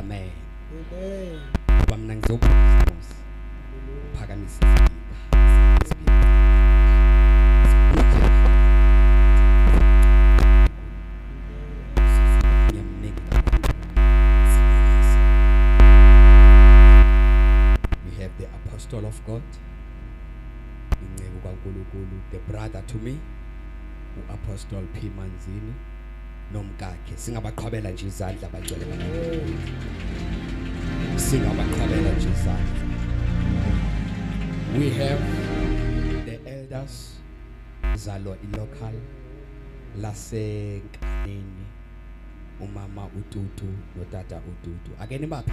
amen Amen. ngoba mna ngizobuzimos phakamisa We have the apostle of God, inceku kaNkulunkulu, the brother to me, uApostle P Manzini, nomkakhe singabaqhwabela nje izandla abagcwele singabaqhwabela nje izandla we have the elders zalo ilocal lasenkanini umama ututu notata ututu ake nibaphe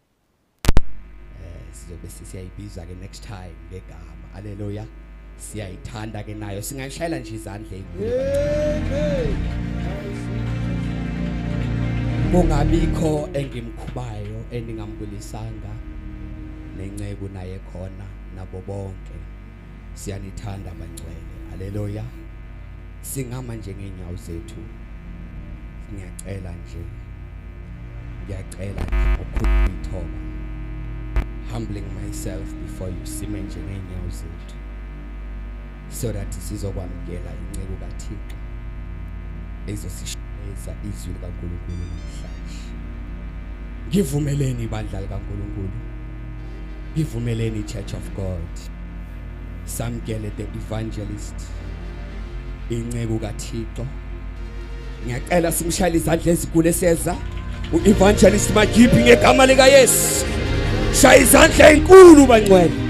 eh sizobe siyayibiza ke next time ngegama haleluya siyayithanda ke nayo singayishayela nje izandla enkulu kungabikho engimkhubayo endingambulisanga nenceku naye khona nabo bonke siyanithanda bangcwele haleluya singama nje ngeenyawo zethu ngiyacela nje ngiyacela nje ukhuluma ithoba humbling myself before you sime nje ngeenyawo zethu so that sizokwamukela inceku kathixo ezosishayisa izwi likankulunkulu namhlanje ngivumeleni ibandla likankulunkulu ivumeleni church of god samkele the evangelist inceku kathixo ngiyacela simshayele izandla ezikulu eseza u-evangelist magiphi ngegama likayesu shaya izandla enkulu bangcwele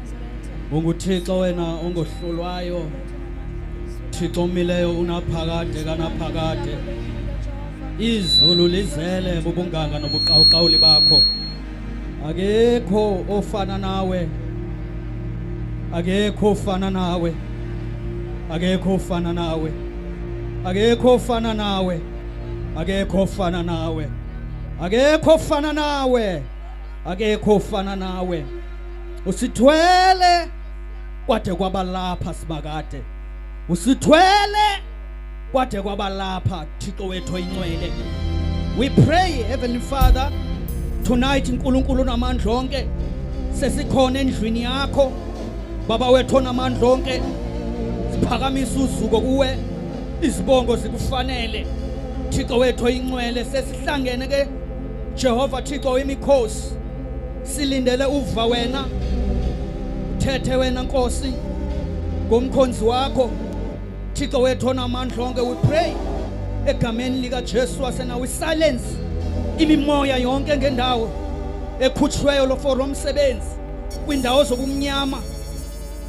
unguthixo wena ongohlulwayo thixo omileyo unaphakade kanaphakade izulu lizele bubunganga nobuqawuqawuli bakho akekho ofana nawe akekho ofana nawe akekho ofana nawe akekho ofana nawe akekho ofana nawe akekho ofana nawe akekho ofana nawe usithwele kwade kwabalapha sibakade usithwele kwade kwabalapha thixo wethu oyinxwele we pray heavenly father tonight nkulunkulu namandla onke sesikhona endlwini yakho baba wethu onamandla onke siphakamisa uzuko kuwe izibongo zikufanele thixo wethu oyinxwele sesihlangene ke jehova thixo wemikhosi silindele uva wena uthethe wena nkosi ngomkhonzi wakho thixo wethu onamandla onke we pray egameni likajesu wasena we silence imimoya yonke ngendawo ekhutshweyo lofo lomsebenzi kwiindawo zobumnyama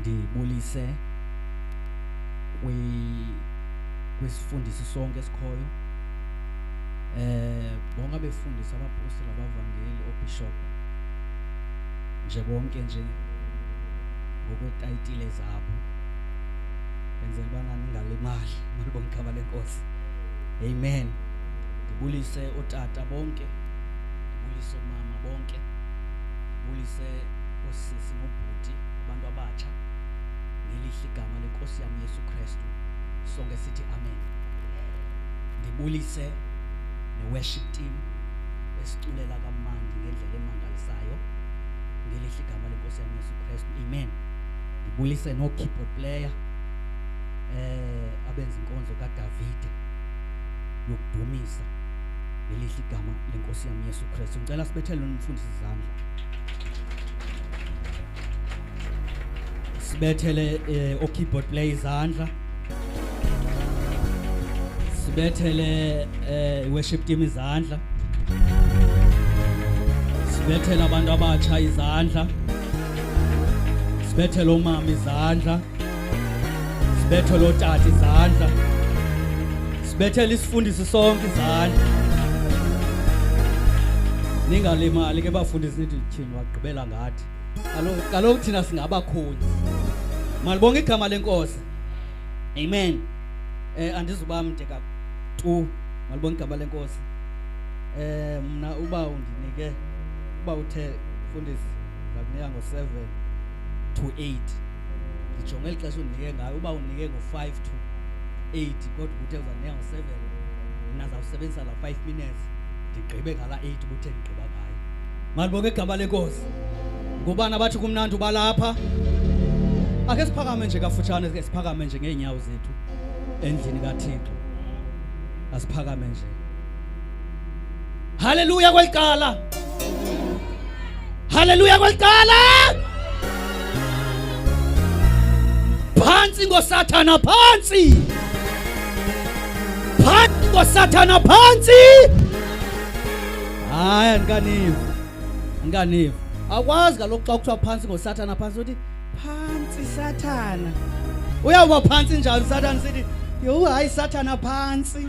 ndibulise kwi kwisifundisi sonke esikhoyo eh bonke abefundisi abapostoli abavangeli obishop nje bonke nje ngokwetayitile zabo benzela ubana ningalimali malibona igama lenkosi amen ndibulise otata bonke ndibulise omama bonke ndibulise osisi sisi nobhuti abantu abatsha ngelihle igama lenkosi yam uyesu kristu sonke sithi amen ndibulise ne-worship team esiculela kamandi ngendlela emangalisayo ngelihle igama lenkosi yam uyesu kristu amen ndibulise noo-keyboard player eh abenza inkonzo kaDavide yokudumisa lelihle igama lenkosi yami Yesu Kristu ngicela sibethele nomfundisi izandla sibethele eh, okeyboard play izandla sibethele eh, worship team izandla sibethele abantu abatsha izandla sibethele umama izandla sibethe lo tata izandla sibethele isifundisi sonke izandla ningalimali ke bafundisi nithi tyhini wagqibela ngathi kaloku thina singabakhonyi malibonga igama lenkosi amen eh andizuba mde ka tu malibonga igama lenkosi eh mna uba undinike uba uthe fundisi ngakunika ngo-7 to 8 ndijonge eli xesha undinike ngayo uba undinike ngo-five to eight kodwa ubuthe uzandinika ngo-seven mna zawusebenzisa la five minutes ndigqibe ngala eight ubuthe ndigqiba ngayo mandibonke igama lenkosi ngubani abathi kumnandi ubalapha akhe siphakame nje kafutshane ke siphakame nje ngeenyawo zethu endlini kathixo asiphakame nje Haleluya kwaliqala. Haleluya kwaliqala. Phansi ngoSathana phansi. Phansi ngoSathana phansi. Hayi andikaniva. Andikaniva. Akwazi kaloku xa kuthiwa phansi ngoSathana phansi uthi phansi Sathana. Uyawuba phansi njani Sathana sithi yho hayi Sathana phansi.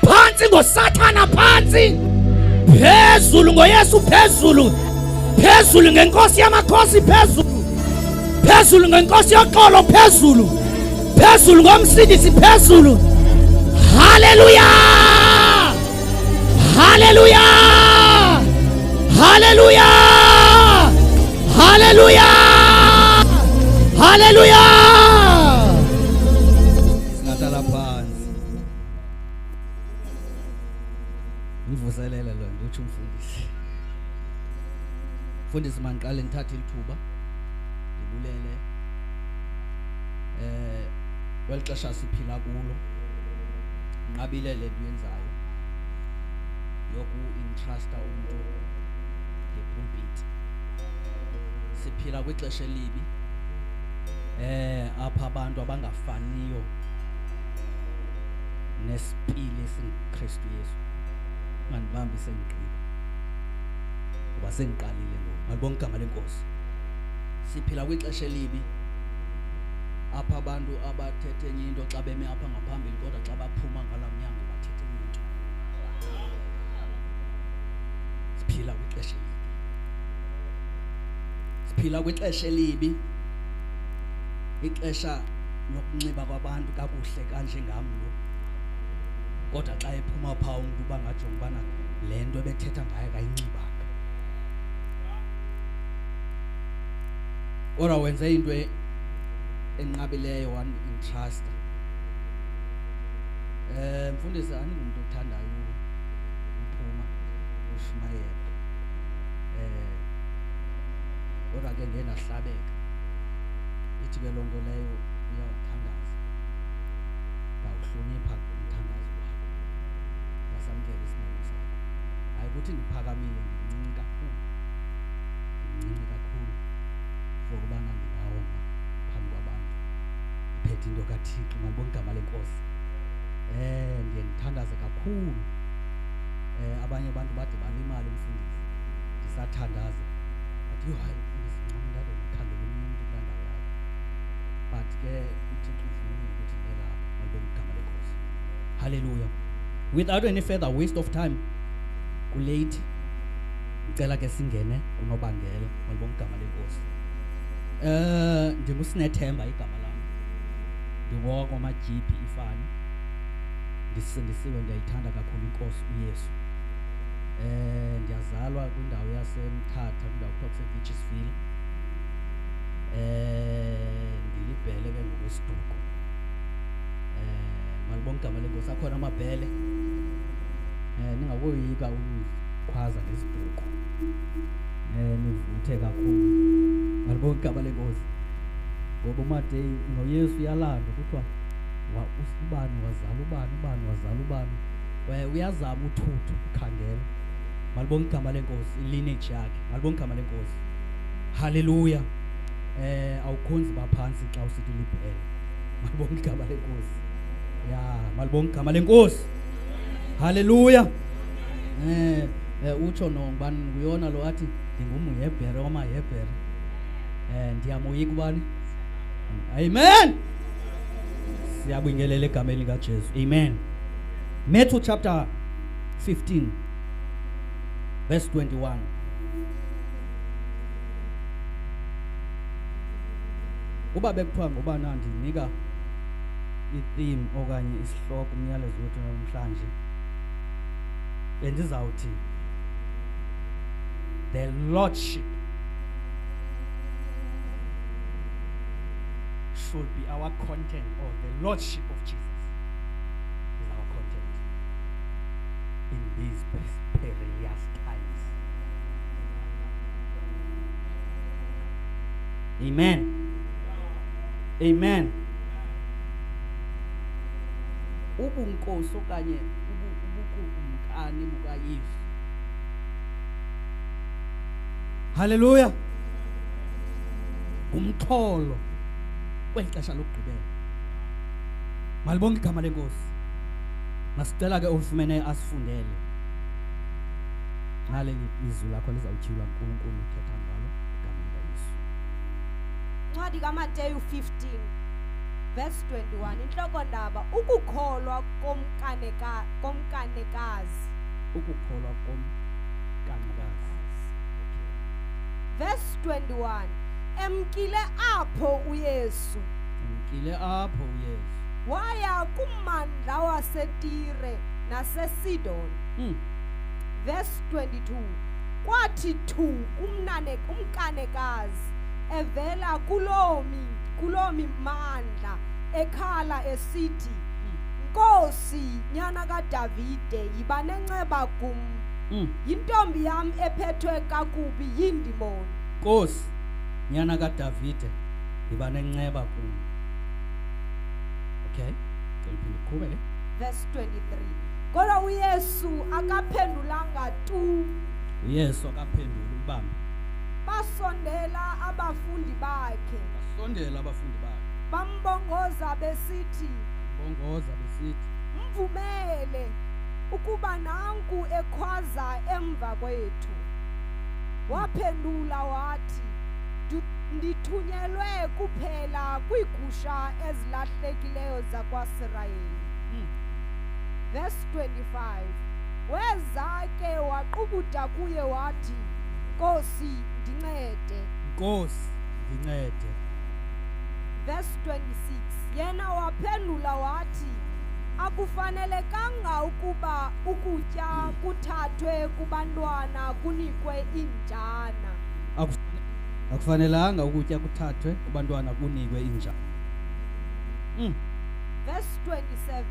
Phantsi ngoSathana phantsi. Phezulu ngoYesu phezulu. Phezulu ngenkosi yamakhosi phezulu. Phezulu ngenkosi yoxolo phezulu. Phezulu ngomsindisi phezulu. Haleluya! Haleluya! Haleluya! Haleluya! Haleluya! ndivuselele lo nto utsho umfundisi mfundisi mandiqale ndithathe ilithuba ndibulele eh kweli xesha siphila kulo nqabile le nto yenzayo yoku-intrusta umntu ngepulpit siphila kwixesha elibi eh apha abantu abangafaniyo nesipili esingukristu yesu mandibambi sengigqiba ngoba sengiqalile ngoku malibonga igama lenkosi siphila kwixesha elibi apha abantu abathethe enye into xa beme apha ngaphambili kodwa xa baphuma ngala mnyango bathethe enye into siphila kwixesha elibi siphila kwixesha elibi ixesha nokunxiba kwabantu kakuhle kanjengam lo kodwa xa ephuma phaa umntu uba ngajonga ubana le nto ebethetha ngayo kayinxibanga kodwa wenze into e-, enqabileyo wandintrusta um eh, mfundisi andingumntu othandayo uphuma ushumayela um eh, kodwa ke ngenahlabeka ithi ke loo nto leyo uyawuthandaza ndawuhlonipha umthandazo wakho wasamkela isinene sakho hayi ukuthi ndiphakamile ndincinci kakhulu ndincinci kakhulu for ubana ndingawoma phambi kwabantu ndiphethe into kathixo ngandibona igama lenkosi um ndiye ndithandaze kakhulu um abanye abantu bade balimali umfundisi ndisathandaza but yho hayi ndizincamlele ndikhangele omnye umntu kulaa ndawo yakho but ke uthixo uvunyile ukuthi ndelapha malibe ngigama lenkosi halleluya without any further waste of time kuleyithi ndicela ke singene kunobangela malibe ngigama lenkosi um ndingusinethemba igama lam ndingoko amajiphi ifani ndisindisiwe ndiyayithanda kakhulu inkosi uyesu um ndiyazalwa kwindawo yasemthatha kwindawo toxic witches feel eh ndilibhele ke ngokwesiduko eh malibonke igama lenkosi akhona amabhele eh ningakoyika ukukhwaza ngesiduko eh nivuthe kakhulu malibonke igama lenkosi ngoba umadeyi noyesu uyalanda kuthiwa ubani wazala ubani ubani wazala ubani uyazama uthuthu ukhangela malibonga igama lenkosi ilineji yakhe malibonga igama lenkosi haleluya eh awukhonzi baphansi xa usithi libhele malibonga igama lenkosi ya malibonga igama lenkosi haleluya eh, eh utsho no ngubani nguyona lo athi ndingumhebhere wamahebhere eh ndiyamoyika ubani amen siyabingelela egameni likajesu amen matthew chapter 15 verse 21 uba bekuthiwa ngubani andinika i-theme okanye isihloko umyalezo wethu namhlanje bendizawuthi the lordship should be our content or the lordship of jesus in these perilous times. Amen. Amen. Ubunkosi okanye ubukumkani bukaYesu. Hallelujah. Umxholo kweli xesha lokugqibela. Malibonke igama lenkosi. masicela ke ofumeneyo asifundele nxa leli izwi lakho lizawutyhilwa nkulunkulu uthetha ngalo igama likayesu ncwadi kamateyu 15 verse 21 intlokondaba ukukholwa komkaneka, komkanekazi ukukholwa komkanekazi verse 21 emkile apho uyesu emkile apho uyesu waya kum amandla wasetire nasesidon Mm. verse 22 kwathi thu umnane umkanekazi evela kuloo mi- kuloo mimandla ekhala esithi nkosi nyana kadavide yiba nenceba kum Mm. yintombi yam ephethwe kakubi yindimoni nkosi nyana kadavide yiba nenceba kum okay ndiphinde ndiqhubele verse 23 kodwa uyesu akaphendulanga tu uyesu akaphenduli ubambe basondela abafundi bakhe basondela abafundi bakhe bambongoza besithi bambongoza besithi mvumele ukuba nanku ekhwaza emva kwethu waphendula wathi "Ndu- ndithunyelwe kuphela kwiigusha ezi ezilahlekileyo zakwaSirayeli. Mm. Verse 25. Weza ke waqubuda kuye wathi, Nkosi, ndincede. Nkosi, ndincede. Verse 26. Yena waphendula wathi, akufanelekanga ukuba ukutya kuthathwe kubantwana kunikwe iinjana akufanelanga ukutya kuthathwe kubantwana kunikwe inja Mm. verse 27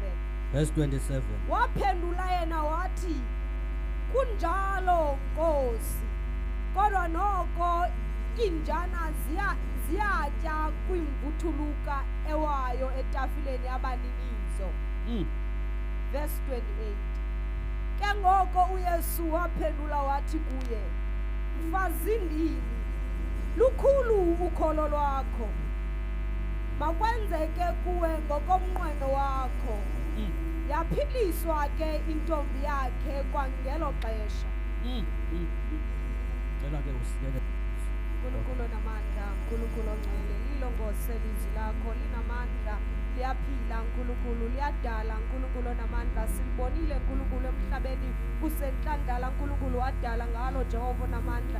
verse 27 waphendula yena wathi kunjalo nkosi kodwa noko iinjana ziya- ziyatya kwimvuthuluka ewayo etafileni yabaninizo Mm. verse 28 ke ngoko uyesu waphendula wathi kuye mfazindini lukhulu ukholo lwakho makwenzeke kuwe ngokomnqweno wakho Mm. yaphiliswa ke intombi yakhe kwangelo xesha Mm, mm, mm. Cela ke usilele. unkulunkulu onamandla unkulunkulu ongcwele lilongose lizwi lakho linamandla liyaphila nkulunkulu liyadala nkulunkulu onamandla silibonile nkulunkulu emhlabeni kusentlandala nkulunkulu wadala ngalo jehova onamandla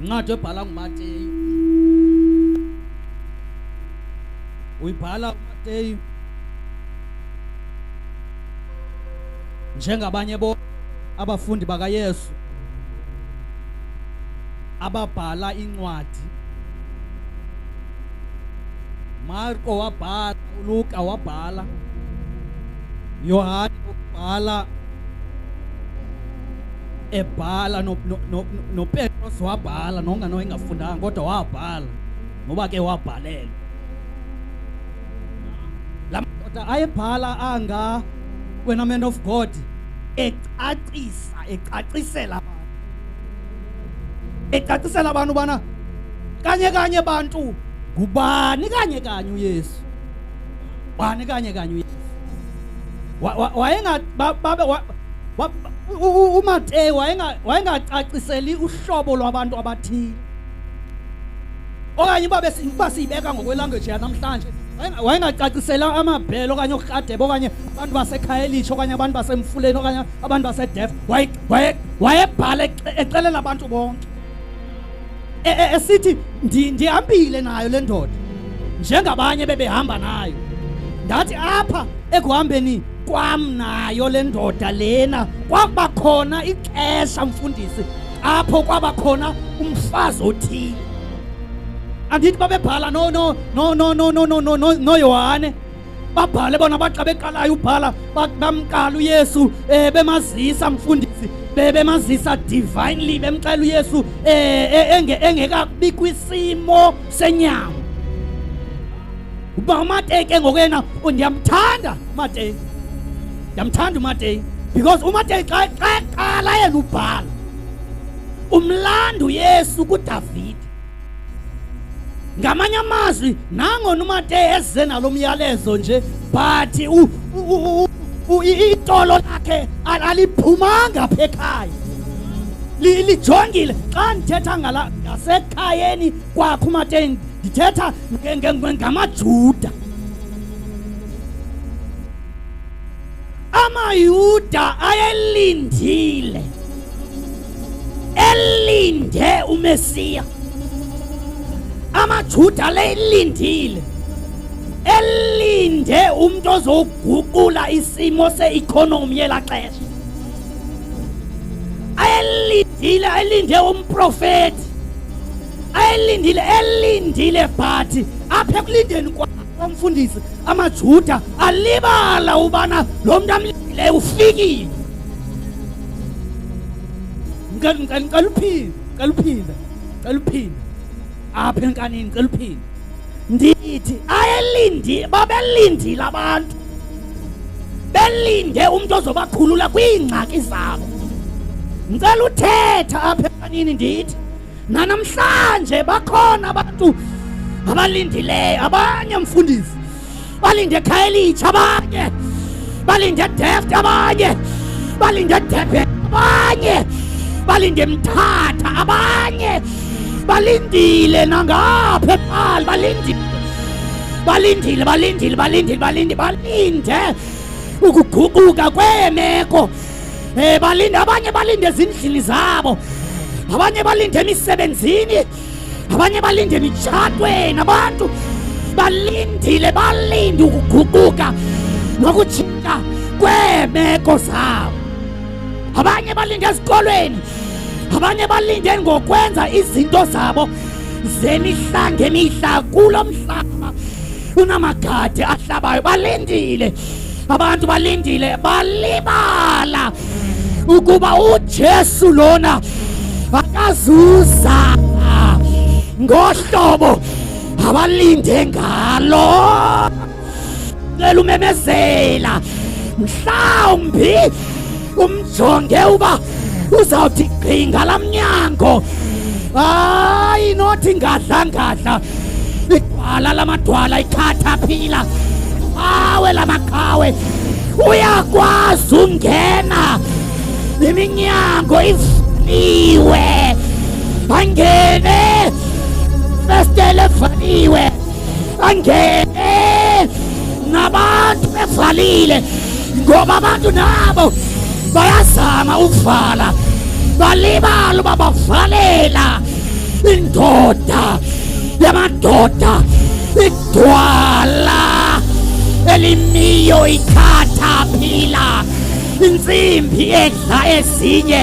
incwadi ebhala ngumateyu uyibhala umateyu njengabanye bo abafundi bakayesu ababhala incwadi marko wabhala uluka wabhala yohane wabhala ebhala nopetros no, no, no wabhala nongano engafundanga kodwa wabhala ngoba ke wabhalelwa la madoda ayebhala anga wena man of god ecacisa ecacisela abantu ecacisela abantu ubana kanye kanye bantu ngubani kanye kanye uyesu wani kanye kanye uyesu umateyu wayengacaciseli uhlobo lwabantu abathile okanye uba siyibeka ngokwelanguage yanamhlanje wayengacacisela amabhele okanye urhadebe okanye abantu basekhayelitsho okanye abantu basemfuleni okanye abantu basedef wayebhala exelela abantu bonke e, e, esithi ndihambile nayo le ndoda njengabanye bebehamba nayo ndathi apha ekuhambeni kwam nayo le ndoda lena kwaba khona ixesha mfundisi apho kwaba khona umfazi othile andithi babebhala no no no no no no no no no Yohane babhale bona baxa beqalayo ubhala bamqala uyesu um eh, bemazisa mfundisi bebemazisa divinely bemxela uyesu um eh, eh, engekabi kwisimo senyama uba umateke ngokuyena oh, ndiyamthanda umateke ndiyamthanda umateke because umateke xa qala yena ubhala umlando yesu kudavide ngamanye amazwi nangona umateya eze nalo myalezo nje but itolo lakhe aliphumanga apha ekhaya lijongile xa ndithetha ngala ngasekhayeni kwakho umateya ndithetha ngamajuda AmaYuda ayelindile, elinde uMesiya. AmaJuda aleyilindile, elinde umntu ozoguqula isimo se-economy yelaa xesha. Ayelindile, elinde umprofeti. Ayelindile, elindile but apha ekulindeni kwakhe Umfundisi amaJuda alibala ubana lo mntu amlileyo ufikile. Ngicela ngicela ngicela uphinde, ngicela uphinde, ngicela uphinde. Apha enkanini ngicela uphinde. Ndithi ayelindi babelindile abantu. Belinde umuntu ozobakhulula kwiingxaki zabo. Ngicela uthetha apha enkanini ndithi Nanamhlanje bakhona abantu abalindileyo, abanye mfundisi balinde Khayelitsha, abanye balinde Deft, abanye balinde Durban, abanye balinde Mthatha, abanye balindile nangapha ePaarl, balindile balindile balindile balindile balindile balinde ukuguquka kweemeko Eh balinde abanye balinde ezindlini zabo. Abanye balinde emisebenzini. Abanye balinde emitshatweni abantu balindile balinde ukuguquka nokutshintsha kweemeko zabo. Abanye balinde ezikolweni. Abanye balinde ngokwenza izinto zabo zemihla ngemihla kulo mhlaba unamagade ahlabayo balindile Abantu balindile balibala ukuba uJesu lona akazuza ngohlobo abalinde ngalo cela umemezela mhlawumbi umjonge uba uzawuthi gqi ngala mnyango hayi nothi ngadlangadla idwala lamadwala ithatha phila qhawe lamaqhawe uyakwazi ungena iminyango ivaliwe angene festele evaliwe angene nabantu bevalile ngoba abantu nabo bayazama ukuvala balibala uba bavalela indoda yamadoda igwala elimiyo ikhatha phila intsimbi edla ezinye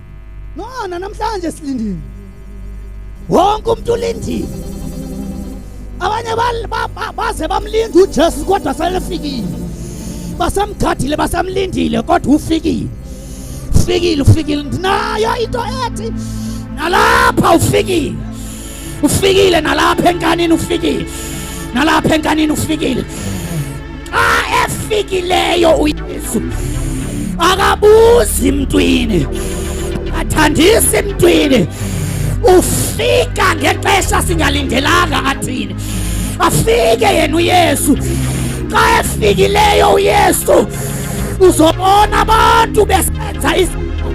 Nona namhlanje silindile. Wonke umuntu ulindile. Abanye baze bamlinda uJesu kodwa selefikile. Basamgadile basamlindile kodwa ufikile. Ufikile ufikile. Ndinayo into ethi nalapha ufikile. Ufikile nalapha enkanini ufikile. Nalapha enkanini ufikile. Xa efikileyo uYesu akabuzi mntwini. Athandisi mntwini. Ufika ngexesha singalindelanga athini. Afike yena uYesu. Xa efikileyo uYesu uzobona abantu besenza izinto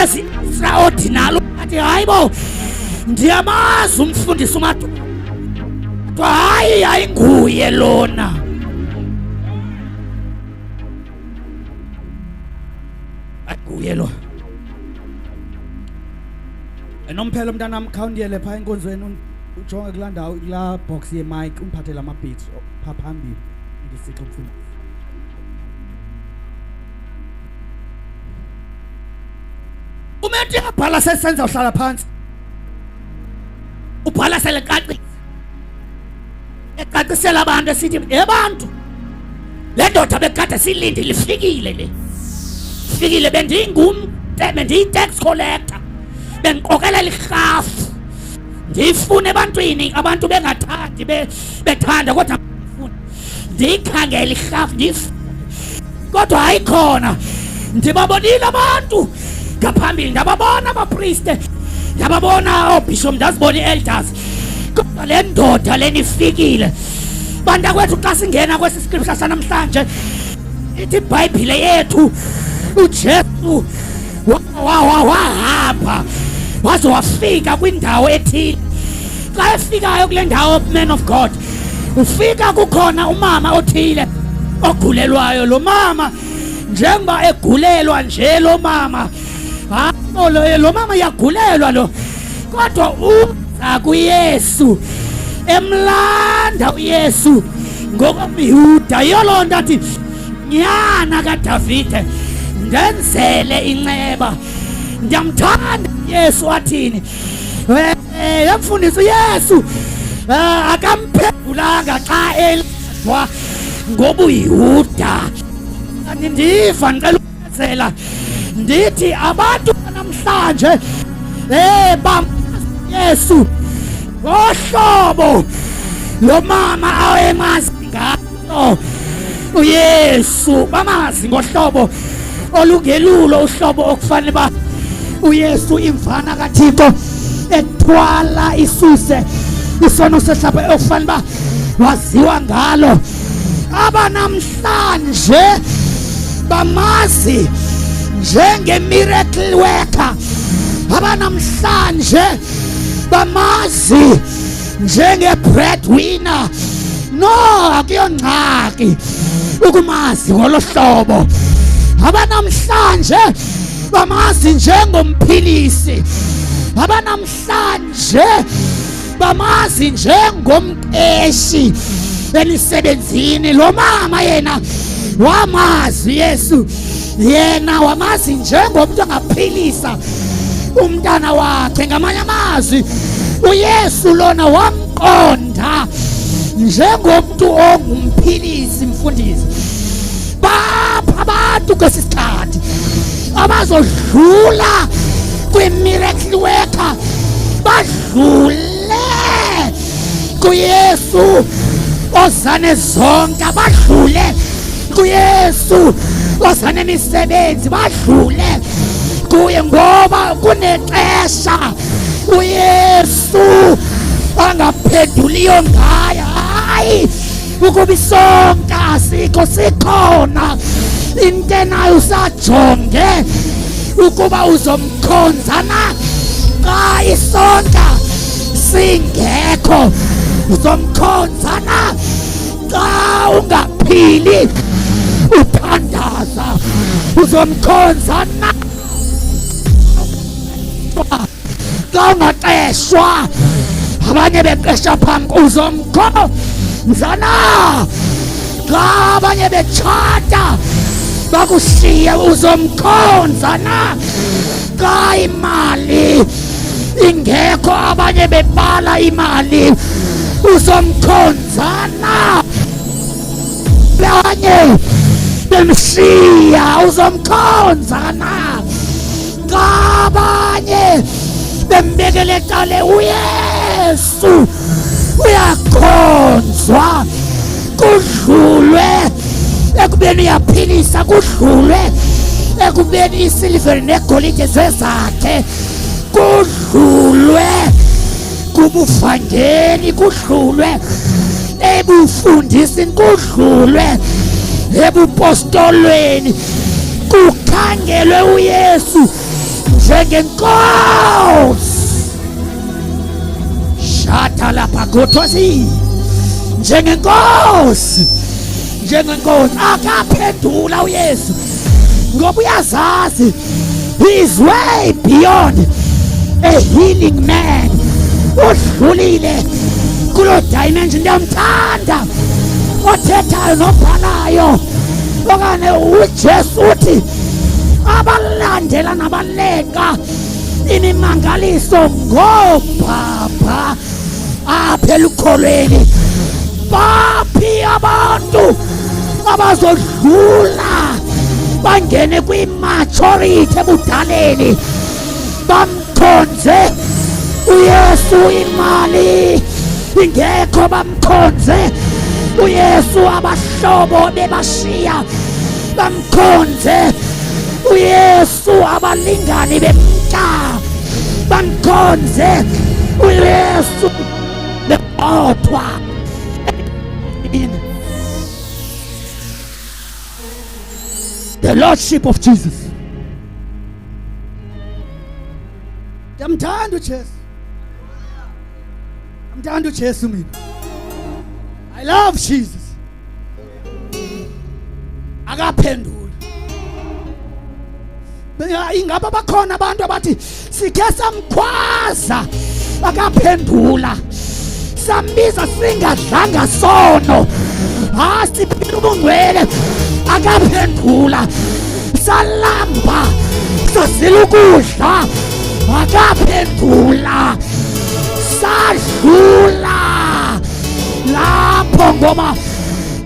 ezi-extraordinary athi hayi bo ndiyamazi umfundisi umatwa kuthiwa hayi ayinguye lona ayinguye lona enomphelo mntanam khawundiyele phaa enkonzweni ujonge kulaa ndawo kulaa box yemike umphathele amabhitsi phaa phambili ndisitsho mfundisi umenti yabhala sesenza uhlala phansi ubhala selecacisa ecacisela abantu esithi ebantu le ndoda bekade silinde lifikile le fikile bendingum bendiyi-tax collector bendiqokelela irhafu ndiyifune ebantwini abantu bengathandi bethanda kodwa ndiyifune ndiyikhangele irhafu ndive kodwa ayikhona ndibabonile abantu ngaphambili ndababona abapriste ndababona oobhishop ndazibona i-elders kodwa le ndoda leni ifikile bantakwethu xa singena kwesi scripture sanamhlanje ithi ibhayibhile yethu ujesu wahamba waze wafika kwindawo ethile xa efikayo kule ndawo man of god ufika kukhona umama othile ogulelwayo lo mama njengoba egulelwa nje lo mama hayi lo mama yagulelwa lo kodwa uza kuyesu emlanda uyesu ngokomyuda yoloo nto athi nyana kaDavide ndenzele inceba ndiyamthanda Yesu wathini yamfundisi Yesu eh, akamphendulanga xa eladwa ngobuYuda ndiva ndicela Zela ndithi abantu namhlanje eh bam Yesu ngohlobo lo mama awemazi ngalo uYesu bamazi ngohlobo olungelulo uhlobo okufanele ba uYesu imvana kaThixo ethwala isuse isono sehlapha okufanele ba waziwa ngalo abanamhla namhlanje bamazi njengemiracle worker abanamhlanje bamazi njenge-breadwinner no akuyongxaki ukumazi ngolo hlobo abanamhlanje bamazi njengomphilisi abanamhlanje bamazi njengomqeshi emisebenzini lo mama yena wamazi yesu yena wamazi njengomntu angaphilisa umntana wakhe ngamanye amazwi uyesu lona wamqonda njengomntu ongumphilisi mfundisi bapha abantu kwesi sikhathi abazodlula kwimiracle worker badlule kuyesu ozane zonke badlule kuyesu osanemisebenzi badlule kuye ngoba kunexesha uyesu angaphenduliyo ngayo hayi ukuba isonka asikho sikhona into enayo usajonge ukuba uzomkhonza na xa isonka singekho uzomkhonza na xa ungaphili uthandaza uzomkhonza na kawungaxeshwa abanye beqesha phambi kuzo mkho mzana xa abanye betshata bakushiye uzomkhonza na xa imali ingekho abanye bebala imali uzomkhonza na Banye bemshiya uzomkhonza na ngabanye bembekele cale uyesu uyakhonzwa kudlulwe ekubeni uyaphilisa kudlulwe ekubeni isiliveri negolide zezakhe kudlulwe kubufangeni kudlulwe ebufundisini kudlulwe ebupostolweni kukhangelwe uyesu njengenkosi shata lapha gothosi njengenkosi njengenkosi akaphendula uyesu ngoba uyazazi he is way beyond a healing man udlulile kuloo dimension ndiyamthanda othethayo nobhalayo okanye ujesu uthi abalandela nabalenga imimangaliso ngoobhabha apha elukholweni baphi abantu abazodlula bangene kwimaturity ebudaleni bamkhonze uyesu imali ingekho bamkhonze uyesu abahlobo bebashiya bamkhonze uyesu Yesu abalingani bemka bamkhonze uYesu bebodwa the lordship of Jesus ndiyamthanda uJesu ndiyamthanda uJesu mina i love Jesus akaphenduli ingaba bakhona abantu abathi sike samkhwaza akaphendula sambiza singadlanga sono ha siphila ubungcwele akaphendula salamba sazila ukudla akaphendula sadlula lapho ngoba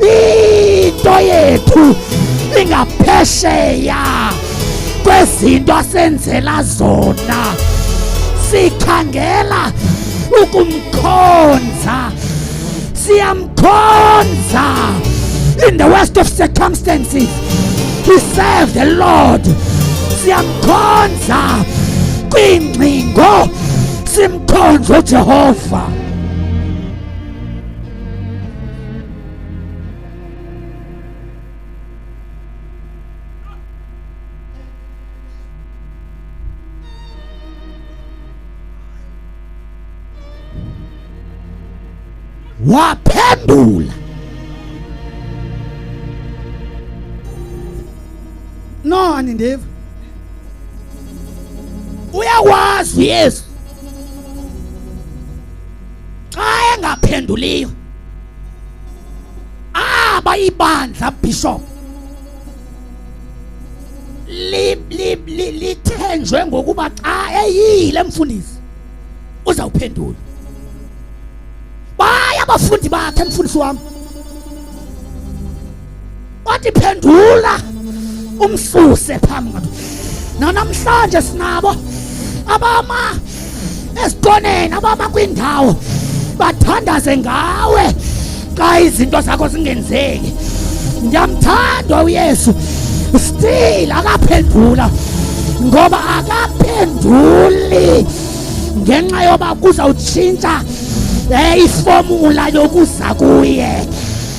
into yethu ingaphesheya kwezinto asenzela zona sikhangela ukumkhonza siyamkhonza in the worst of circumstances we serve the lord siyamkhonza kwingcingo simkhonza ujehova waphendula no anindiva uyakwazi uyesu xa engaphenduliyo aba ibandla bishop lithenjwe ngokuba xa eyile mfundisi uzawuphendula baya abafundi bakhe mfundisi wami wathi phendula umsuse phambi kwethu nanamhlanje sinabo abama esitoneni abama kwindawo bathandaze ngawe xa izinto zakho zingenzeki ndiyamthanda uyesu still akaphendula ngoba akaphenduli ngenxa yoba kuzawutshintsha um ifomula yokuza kuye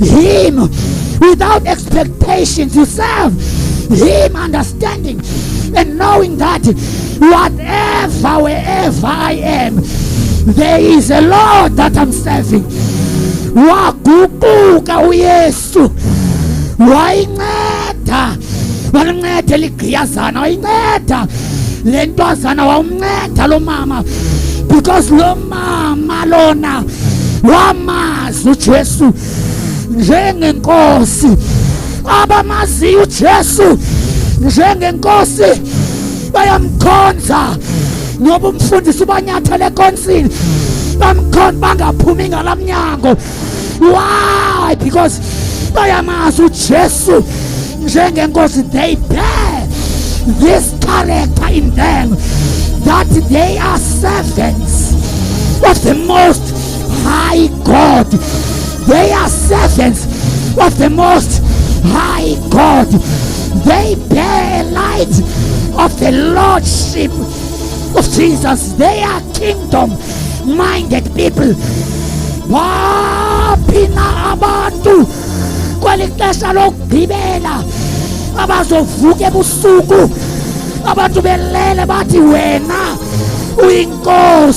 Him without expectation to serve Him, understanding and knowing that whatever, wherever I am, there is a Lord that I'm serving. Waguquka uYesu wayinceda walinceda eligqiyazana wayinceda le ntwazana wawumnceda lo mama because lo mama lona wamazi uJesu njengenkosi abamaziyo uJesu njengenkosi bayamkhonza noba umfundisi ubanyathele ekonsini bamkhonza bangaphumi ngala mnyango why because bayamazi ujesu njengenkosi they bear this character in them that they are servants of the most High God. They are servants of the Most High God. They bear light of the Lordship of Jesus. They are kingdom minded people. Waphi na abantu kweli xesha lokugqibela abazovuka ebusuku abantu belele bathi wena uyinkosi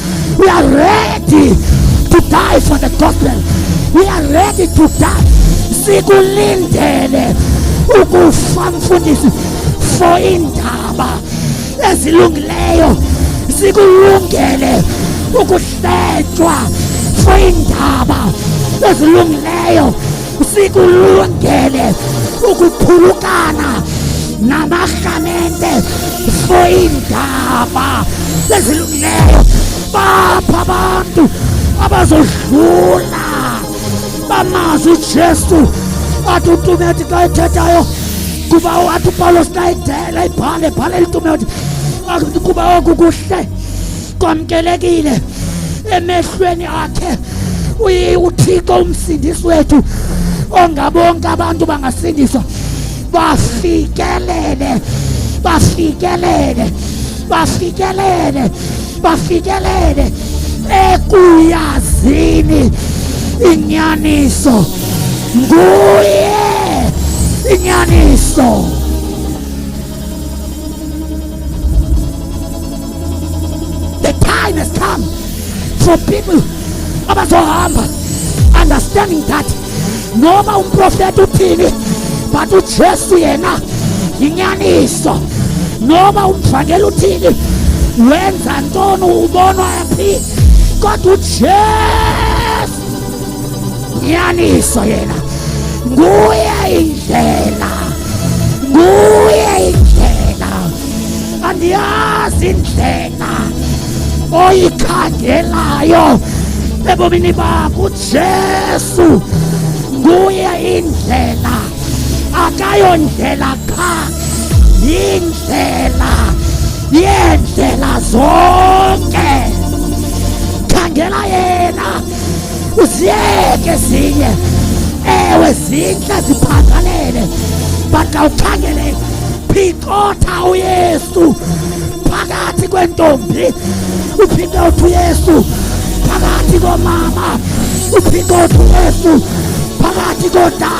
We are ready to die for the gospel. We are ready to die. Sikulindele ukufa mfundisi for indaba ezilungileyo. Sikulungele ukuhletywa for indaba ezilungileyo. sikulungele ukuphulukana namarhamente for iindaba ezilungileyo bapha abantu abazodlula bamazi ujesu athi utumeti xa ethethayo kuba athi upawulos xa idela ibhale ibhale litumeti kuba oku kuhle kwamkelekile emehlweni akhe uthixo umsindisi wethu ongabonke abantu bangasindiswa bafikelele bafikelele bafikelele bafikelele ekuyazini inyaniso nguye inyaniso The time has come for people abazohamba understanding that noma umprofeta uthini but uJesu yena yinyaniso noma umvangeli uthini wenza ntoni ubonwa phi kodwa uJesu nyaniso yena nguye indlela nguye indlela andiyazi indlela oyikhangelayo ebomini bakho ujesu nguye indlela akayondlela qha yindlela yeendlela zonke khangela yena uziyeke zinye ewe zintle ziphangalele but awukhangele phikotha uyesu phakathi kwentombi uphinde uthi uyesu phakathi komama uphinde uthi uyesu phakathi kodala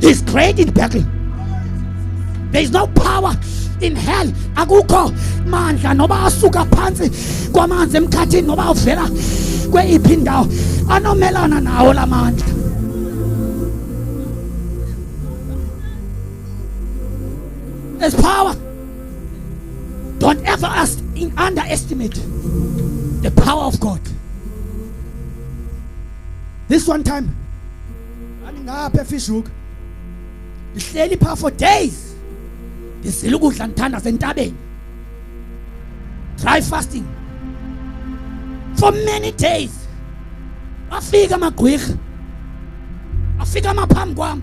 He's great in battle. There is no power in hell. Akukho mandla noba asuka phantsi kwamanzi emkhathini noba uvela kweyiphi indawo anomelana nawo la mandla. There's power. Don't ever underestimate the power of God. this one time andingapha efishuka ndihleli phaa for days ndizile ukudla ndithanda sentabeni dry fasting for many days afika amagqwirha afika amaphambi kwam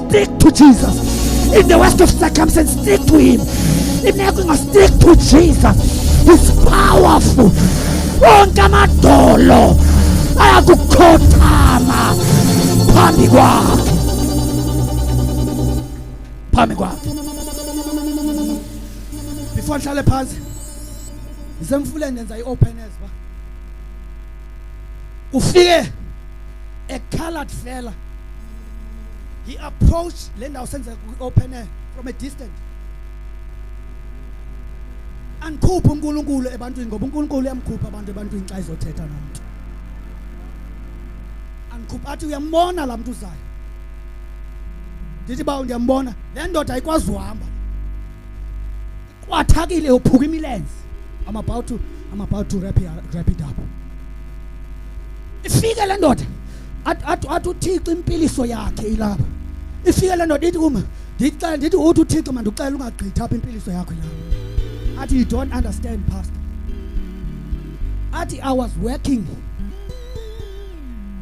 Stick to Jesus. In the worst of circumstances, stick to Him. In everything, stick to Jesus. He's powerful. Onke amadolo ayakukhothama phambi kwakhe phambi kwakhe before ndihlale phantsi ndisemfuleni ndenza i-open as ufike ekhala fela he approached le ndawo senzeka kwi-open air from a distance andikhuphe unkulunkulu ebantwini ngoba unkulunkulu uyamkhupha abantu ebantwini xa izothetha nomntu andikhuphe athi uyambona laa mntu uzayo ndithi bawo ndiyambona le ndoda ayikwazi uhamba kwathakile uphuka imilenze i'm about to i'm about to wrap it, wrap it up ifike le ndoda athi uthixo impiliso yakhe ilapha ifike le ndoda ithi kuma ndicela ndithi uthi uthixo mandicela ungagqithi apha impiliso yakho ilapha athi you don't understand pastor athi i was working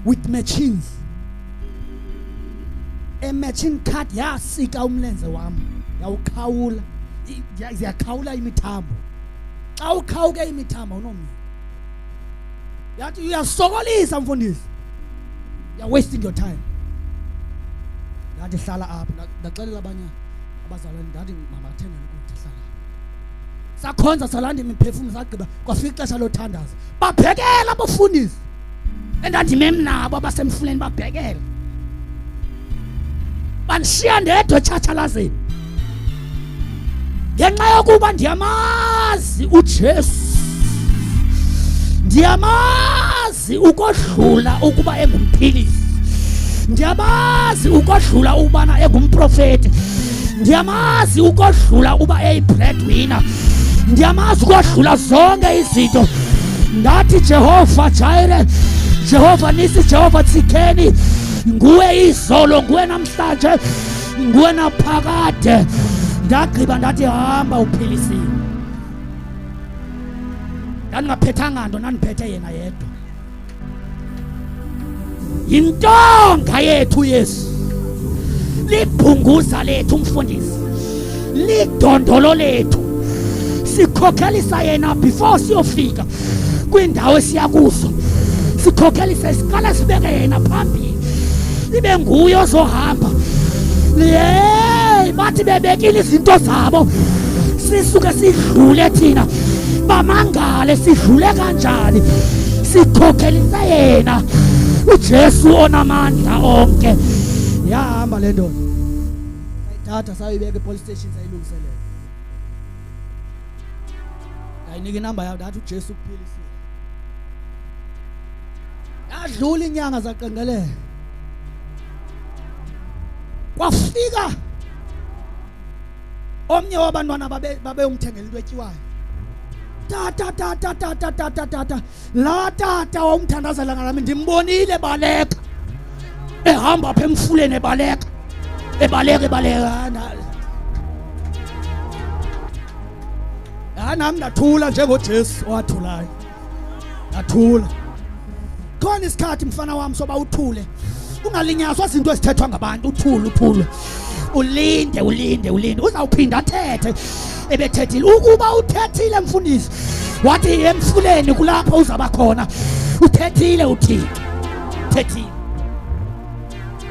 with machines ematching card yasika umlenze wam yawukhawula ziyakhawula imithambo xa ukhawuke imithambo unomnye yathi uyasokolisa mfundisi you're wasting your time ndathi hlala apha ndaxelela abanye abazalwane ndathi mabathenge ukutya hlala sakhonza salanda imiphefumlo sagqiba kwafika ixesha lothandaza babhekela abafundisi endandimem nabo abasemfuleni babhekele bandishiya ndedwa etshatshalazeni ngenxa yokuba ndiyamazi ujesu ndiyamazi ukodlula ukuba engumphilisi ndiyamazi ukodlula ukubana engumprofeti ndiyamazi ukodlula uba eyibreadwinner ndiyamazi ukodlula zonke izinto ndathi jehova jire jehova nisi jehova tsikeni nguwe izolo nguwe namhlanje nguwe naphakade ndagqiba ndathi hamba uphilisiwe ndandingaphethanga nto ndandiphethe yena yedwa yintonga yethu uyesu libhunguza lethu umfundisi lidondolo lethu sikhokhelisa yena before siyofika kwiindawo esiya kuzo sikhokhelisa isiqala sibeke yena phambili ibe nguye ozohamba yeyi bathi bebekile izinto zabo sisuke sidlule thina bamangale sidlule kanjani sikhokhelisa yena uJesu onamandla onke yahamba le ndoda sayithatha sayibeka epolice station sayilungiselela ndayinika inamba yayo ndathi uJesu ukuphilisile yadlula inyanga zaqengeleka kwafika omnye wabantwana babeyomthengela into etyiwayo tata tata tata tata tata laa tata wawumthandazela ngalami ndimbonile baleka ehamba apha emfuleni ebaleka ebaleka ebaleka hayi nam ndathula njengojesu owathulayo Athula. Khona isikhathi mfana wami soba uthule. Ungalinyazwa izinto ezithethwa ngabantu, uthule, uthule. Ulinde, ulinde, ulinde. Uzawuphinda athethe. Ebethethile. Ukuba uthethile mfundisi, wathi emfuleni kulapho uzaba khona. Uthethile uthixo. Thethile.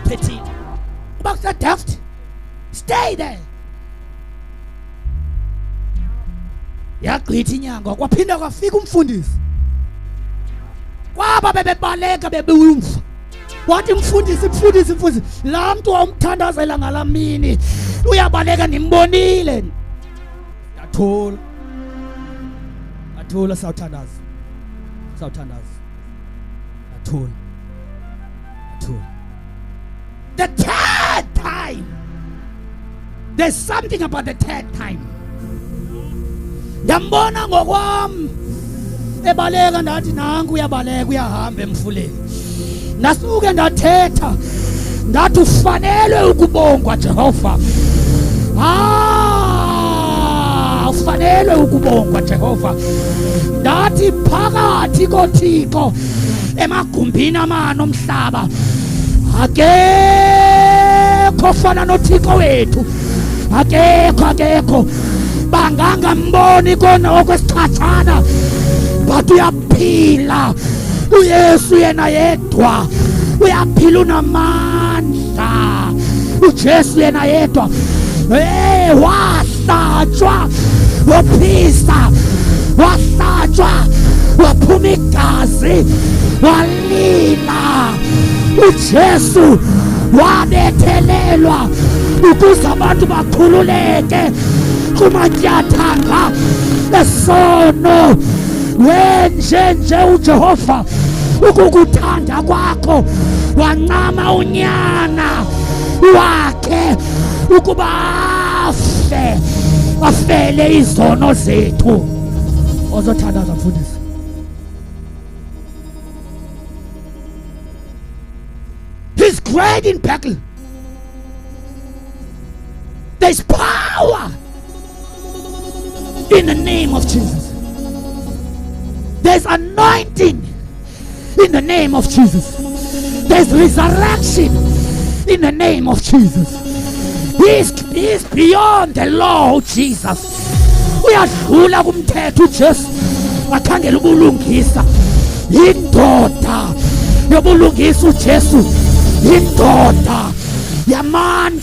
Thethile. Uba kusedaft, stay there. yagqitha inyanga kwaphinda kwafika umfundisi kwaba bebebaleka bebewumva wathi mfundisi mfundisi mfundisi laa mntu wawumthandazela ngalaa mini uyabaleka ndimbonile ndathula ndathula sawuthandaza sawuthandaza ndathula ndathula The third time. There's something about the third time. Ndambona ngokwam ebaleka ndathi nanku uyabaleka uyahamba emfuleni. Ndasuke ndathetha ndathi ufanelwe ukubongwa Jehova. Ah, ufanelwe ukubongwa Jehova. Ndathi phakathi koThixo emagumbini amane omhlaba akekho fana nothixo wethu akekho akekho bangangamboni kona okwesichatshana but uyaphila uyesu yena yedwa uyaphila unamandla wasta ujesu yena yedwa hey wahlatshwa waphisa wahlatshwa waphuma igazi walila ujesu wabethelelwa ukuze abantu bakhululeke kumatyathanga esono wenjenje ujehova ukukuthanda kwakho wancama unyana wakhe ukuba afe afele izono zethu ozothandaza mfundisi he's great in battle there's power In the name of Jesus. There's anointing in the name of Jesus. There's resurrection in the name of Jesus. He's, he's beyond the law uJesus. Uyadlula kumthetho uJesu. Wakhangela ubulungisa. Yindoda yobulungisa uJesu. Yindoda yamandla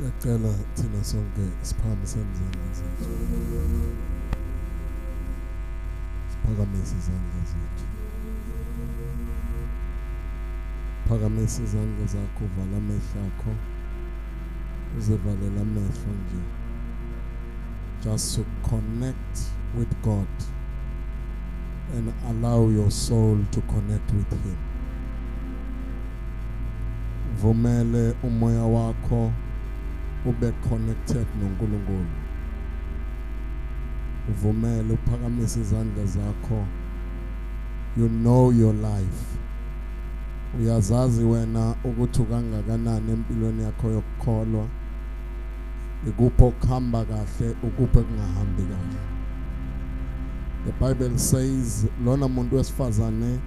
Ngiyacela thina sonke siphakamise izandla zethu. Siphakamise izandla zethu. Phakamise izandla zakho vala amehlo akho. Uzivalela amehlo nje. Just to connect with God and allow your soul to connect with him. vumele umoya wakho ube connected noNkulunkulu uvumele uphakamise izandla zakho you know your life uyazazi wena ukuthi ukangakanani empilweni yakho yokukholwa ikuphi okuhamba kahle ukuphi kungahambi kahle the bible says lona muntu wesifazane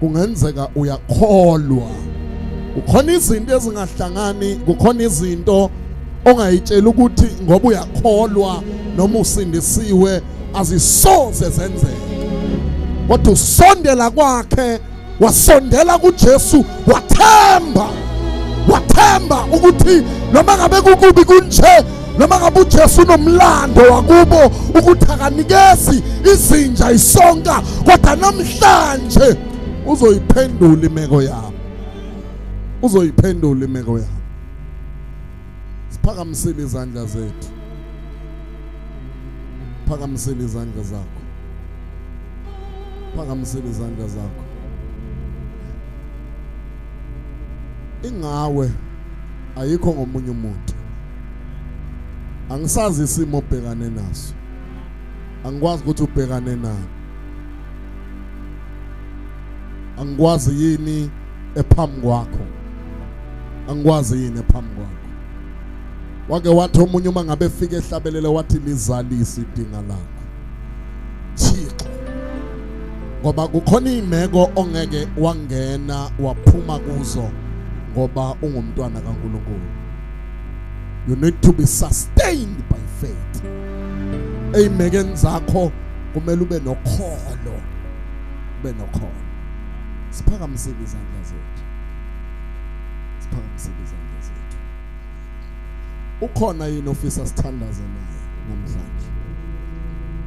kungenzeka uyakholwa kukhona izinto ezingahlangani kukhona izinto ongayitshela ukuthi ngoba uyakholwa noma usindisiwe azisoze zenzeke kodwa usondela kwakhe wasondela kuJesu wathemba wathemba ukuthi noma ngabe kukubi kunje noma ngabe uJesu unomlando wakubo ukuthi akanikezi izinja isonka kodwa namhlanje uzoyiphendula imeko yabo uzoyiphendula imeko yabo siphakamisile izandla zethu phakamisile izandla zakho phakamisile izandla zakho ingawe ayikho ngomunye umuntu angisazi isimo obhekane naso angikwazi ukuthi ubhekane nani angikwazi yini ephambi kwakho angikwazi yini ephambi kwakho wake wathi omunye uma ngabe efika ehlabelele wathi lizalise idinga lakho Thixo ngoba kukhona imeko ongeke wangena waphuma kuzo ngoba ungumntwana kaNkuluNkulu you need to be sustained by faith eymekeni zakho kumele ube nokholo ube nokholo siphakamisile izandla zethu siphakamisile izandla zethu ukhona yini ofisa sithandaze naye namhlanje